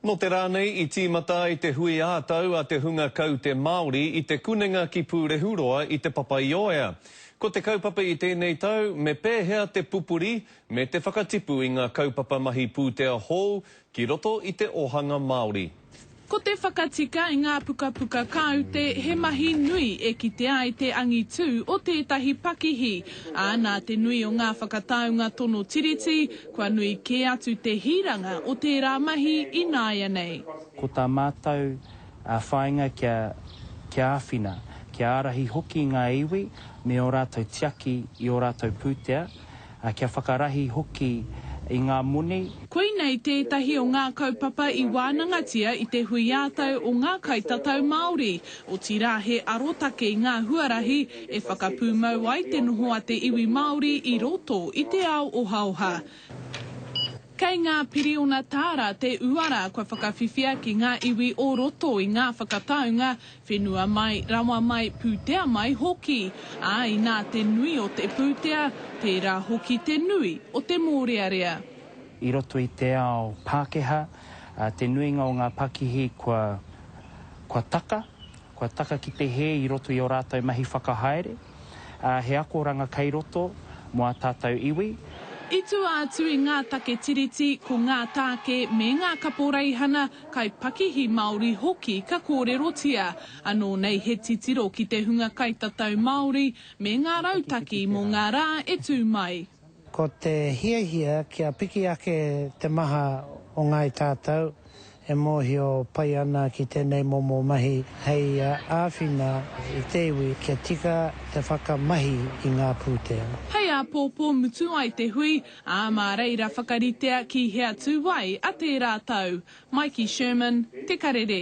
Nō te rā nei i tīmata ai te hui ā-tau a te hunga kaute Māori i Te Kunenga ki Pūrehuroa i Te Papaioea. Ko te kaupapa i tēnei tau me pēhea te pupuri me te whakatipu i ngā kaupapa mahi pūtea hou ki roto i te ōhanga Māori. Ko te whakatika i ngā pukapuka kāute he mahi nui e kite ai te angitū o tētahi pakihi, ā, nā te nui o ngā whakataunga tono Tiriti, kua nui kē atu te hiranga o tērā mahi ināianei. Ko tā mātou whāinga kia, kia āwhina, kia ārahi hoki ngā iwi me ō rātou tiaki i ō rātou pūtea, Ā, kia whakarahi hoki i ngā moni. Koinei tētahi o ngā kaupapa i wānangatia i te hui ā-tau o ngā kaitatau Māori, otirā he arotake i ngā huarahi e whakapūmau ai te noho a te iwi Māori i roto i te ao ohaoha. Kei ngā piriona tāra te uara kua whakawhiwhia ki ngā iwi o roto i ngā whakataunga, whenua mai, rawa mai, pūtea mai hoki. Ā, inā te nui o te pūtea, tērā hoki te nui o te mōrearea. I roto i te ao Pākehā, te nuinga o ngā pakihi kua, kua taka, kua taka ki te hē i roto i ō rātou mahi whakahaere. ā, he akoranga kei roto mō ā tātou iwi. I tua atu i ngā take Tiriti, ko ngā tāke me ngā kaporeihana kai pakihi Māori hoki ka kōrerotia. Anō nei he titiro ki te hunga kaitatau Māori me ngā rautaki mō ngā rā e tū mai. Ko te hiahia kia piki ake te maha o Ngāi Tātau e mōhio pai ana ki tēnei momo mahi hei āwhina i te iwi kia tika te whakamahi i ngā pūtea. Hei āpōpō mutu ai te hui, ā, mā reira whakaritea ki hea tū ai a tērā tau. Maiki Sherman, Te Karere.